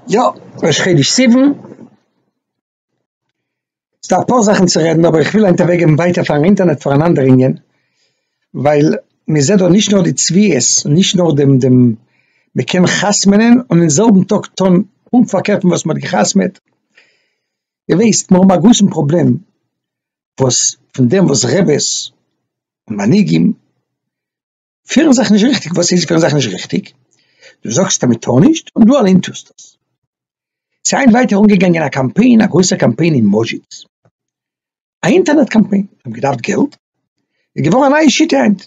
יא, ראש חודש סיוון, ס'דא אפאר זאכן צו רעדן אבער איך וויל היינט אוועקגעבן ווייטער פארן אינטערנעט פאר אן אנדער ענין, ווייל מען זעט דא נישט נאר די צביעות, נישט נאר דעם דעם מען קען חתמ'נען און אין זעלבן טאג טון פונקט פארקערט פון וואס מען האט גע'חתמ'עט, איר ווייסט מיר האבן א גרויסן פראבלעם וואס פון דעם וואס רעבעס און מנהיגים פירן זיך נישט ריכטיג, וואס איז פירן זיך נישט ריכטיג? דו זאגסט אז מען טאר נישט און דו אליין טוסט עס. ס'איז היינט ווייטער אנגעגאנגען א קאמפיין, א גרויסער קאמפיין אין מאדזשיץ, א אינטערנעט קאמפיין, זיי האבן געדארפט געלט, איז געווארן א נייע שיטה היינט,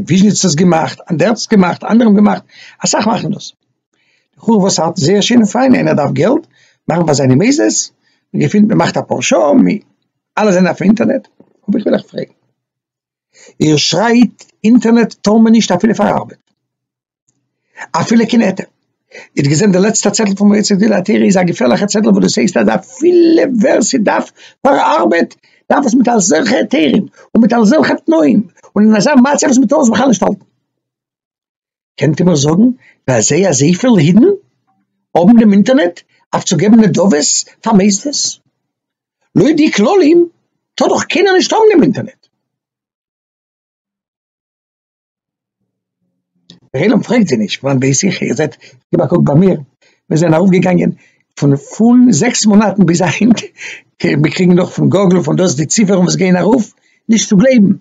וויזשניץ האט עס געמאכט, אנדערטץ האט עס געמאכט, אנדערע האבן געמאכט, אסאך מאכן דאס, בחורים וואס האלטן זייער שיין און פיין, איינער דארף געלט, מאכן פאר זיינע מעזעס, מען געפינט, מען מאכט א פאר שעה, אלע זענען אויף אינטערנעט, אבער איך וויל אייך פרעגן. איר שרייט אינטערנעט טאר מען נישט אפילו פאר ארבעט אפילו קיין עטרה איר האט געזען די לעצטע צעטל פון מועצת גדולי התורה איז א געפערליכע צעטל וואס דאס הייסט אז אפילו ווער ס'דארף פאר ארבעט דארף עס מיט אזעלכע היתרים און מיט אזעלכע תנאים און אין אזא מצב וואס מ'טאר עס בכלל נישט האלטן. קענט איר מיר זאגן פאר זיי אזויפיל אידן האבן דעם אינטערנעט אויף צו געבן נדבות פאר מוסדות? לויט די כללים טאר דאך קיינער נישט האבן דעם אינטערנעט. דער עולם פרעגט זיי נישט פון בית איך איר זעט געב א קוק ביי מיר מיר זענען ארויף געגאנגען פון פון זעקס מאנאטן ביז היינט מיר קריגן נאך פון גוגל פון דאס די ציפערן וואס גייען ארויף נישט צו גלייבן.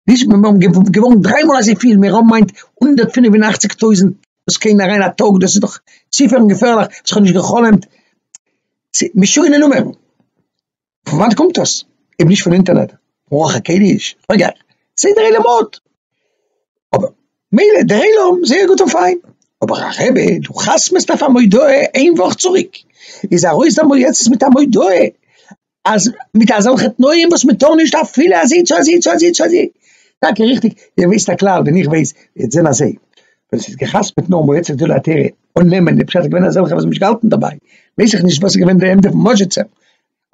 נישט מיר האבן געוואונדערט דריי מאל אזויפיל מיר האבן מיינט הונדערט פֿינף און אַכציק טויזנט וואס קען אריין א טאג דאס איז דאך ציפערן געפערליך וואס כ'האב נישט געחלומט משונה נומערן פון וואנט קומט דאס אויב נישט פון אינטערנעט רוח הקודש אגב סדר עולמות אבער מילא דער עולם זייער גוט און פיין אבער א רבי דו חתמ'סט אויף א מודעה איין וואך צוריק איז ארויס דער מועצת מיט א מודעה אז מיט אזעלכע תנאים וואס מען טאר נישט אפילו אזיצו אזיצו אזיצו אזי טאקע ריכטיג איר וויסט א כלל ווען איך ווייס וועט זען אזוי ווען עס איז געחתמעט נאר מועצת גדולי התורה און נעמען די פשט איז געווען אזעלכע וואס האבן נישט געהאלטן דערביי ווייס איך נישט וואס איז געווען די עמדה פון מודז'יצער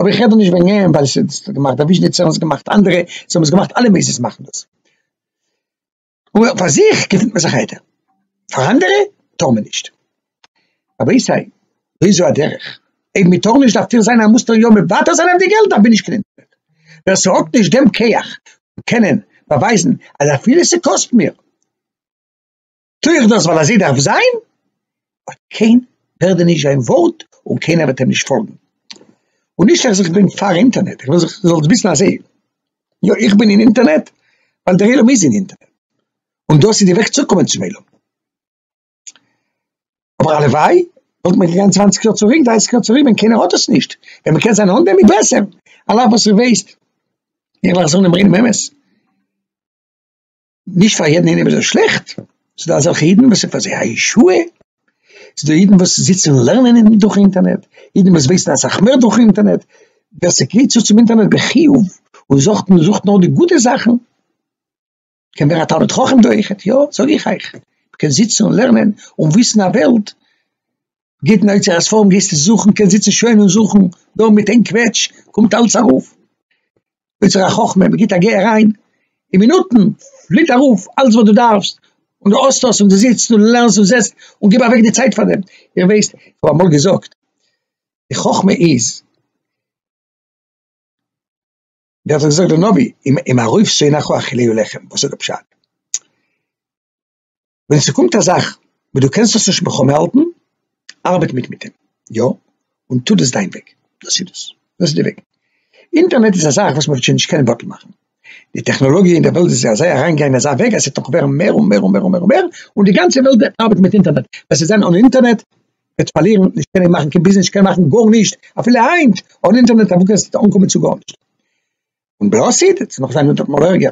אבער איך רעד דא נישט וועגן אים ווייל עס איז געמאכט וויזשניצער און עס איז געמאכט אנדערע זיי האבן עס געמאכט אלע מוסדות מאכן דאס. אבער פאר זיך געפינט מען זיך איידער, פאר אנדערע טאר מען נישט. רבי סיי וויאזוי א דרך, אויב מען טאר נישט דארף טאר זיין א מוסטער יא מוותר זיין אויף די געלט דארף מען נישט קלינטער. ווער ס'האט נישט דעם כח פון קענען באווייזן אז אפילו ס'קאסט מיר טו איך דאס ווייל אזוי דארף זיין, ווייל קיינער הערט דיר נישט זיין ווארט און קיינער וועט אים נישט פאלגן. און נישט אז איך בין פאר אינטערנעט, איך וויל זיך זאלסט וויסן אז עה, יא איך בין אין אינטערנעט ווייל דער עולם איז אין אינטערנעט און דאס איז די וועג צוקומען צום עולם. אבער הלוואי וואלט מען געגאנגען צוואנציג יאר צוריק, דרייסיג יאר צוריק ווען קיינער האט עס נישט, ווען מען קען זיין אן דעם איז בעסער, על אף וואס איך ווייס, איך וועל זאגן דעם ריינעם אמת, נישט פאר יעדן איינעם איז עס שלעכט, ס'איז דא אזעלכע אידן וואס ס'איז פאר זיי א ישועה, ס'איז דא אידן וואס זיצן לערנען דורך אינטערנעט, אידן וואס ווייסן אסאך מער דורך אינטערנעט, ווער ס'גרייט צו צום אינטערנעט בחיוב און זוכט און זוכט נאר די גוטע זאכן, קען ווערן א תלמיד חכם דורכען, יא זאג איך אייך, מ'קען זיצן און לערנען און וויסן א וועלט. גיט אין אוצר הספרים גיסטו זוכן קענסט זיצן שוין און זוכן דא מיט איין קוועטש קומט אלס ארויף אוצר החכמה מ'גיט א גיי אריין אין מינוטן פליט ארויף אלס וואס דו דארפסט און דו האסט עס און דו זיצט און לערנסט און זעסט און גיב אוועק די צייט פאר דעם איר ווייסט איך האב אמאל געזאגט די חכמה איז ווי האט עס געזאגט דער נביא אם ארויף שונאיך אכיליהו לחם וואס איז די פשט? ווען ס'קומט א זאך וואס דו קענסט עס נישט מוכן האלטן, ארבעט מיט מיט דעם, יא, און טו דאס דיין וועג, דאס איז דאס, דאס איז די וועג. אינטערנעט איז א זאך וואס מ'וועט שוין נישט קענען בטל מאכן, די טעכנאלאגיע אין דער וועלט איז אזוי אריינגעגאנגען אין אזא וועג אז ס'וועט נאך ווערן מער און מער און מער און מער און מער, און די גאנצע וועלט וועט ארבעטן מיט אינטערנעט, ווער ס'וועט זיין אן אינטערנעט וועט פארלירן, נישט קענען מאכן קיין ביזנעס, נישט קענען מאכן גארנישט, אפילו היינט אן אינטערנעט אוואו קענסטו אנקומען צו גארנישט, און בלאסיד, ס'וועט נאך זיין אונטער דעם אלערגער.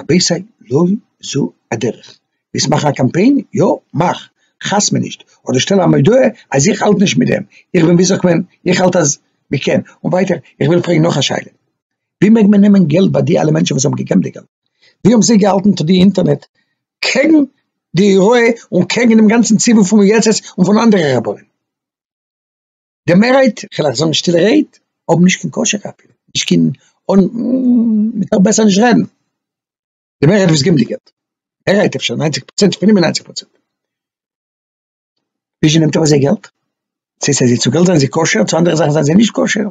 רבותי לא זו הדרך, ווילסט מאכן א קאמפיין יא מאך, חס מנישט, אדער שטעל א מודעה אז איך האלט נישט מיט דעם, איך בין ווי זאגט מען איך האלט אז מ'קען, און ווייטער איך וויל פרעגן נאך א שאלה, ווי מעג מען נעמען געלט ביי די אלע מענטשן וואס האבן געגעבן די געלט, ווי האבן זיי געהאלטן טו די אינטערנעט קעגן די הוראה און קעגן דעם גאנצן ציבור פון מועצת און פון אנדערע רבנים. די מערהייט, כ'על אייך זאגן שטילע רייד, האבן נישט קיין קשר אפי' נישט קיין אן, מ'טאר בעסער נישט רעדן, די מערהייט וואס גיבן די געלט, מערהייט אפשר ניינציג פראצענט, פינף און ניינציג פראצענט, וויאזוי נעמט ארויס זייער געלט? צו איז זיי צו געלט זענען זיי כשר, צו אנדערע זאכן זענען זיי נישט כשר?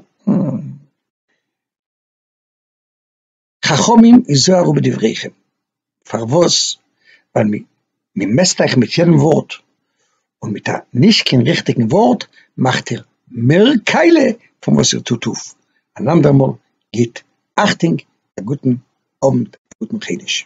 חכמים היזהרו בדבריכם, פארוואס? ווייל מען מעסט אייך מיט יעדן ווארט, און מיט א נישט קיין ריכטיגן ווארט מאכט איר מער קאלע פון וואס איר טוט אויף, אן אנדער מאל גיט אכטונג, א גוטן אוונט, א גוטן חידוש.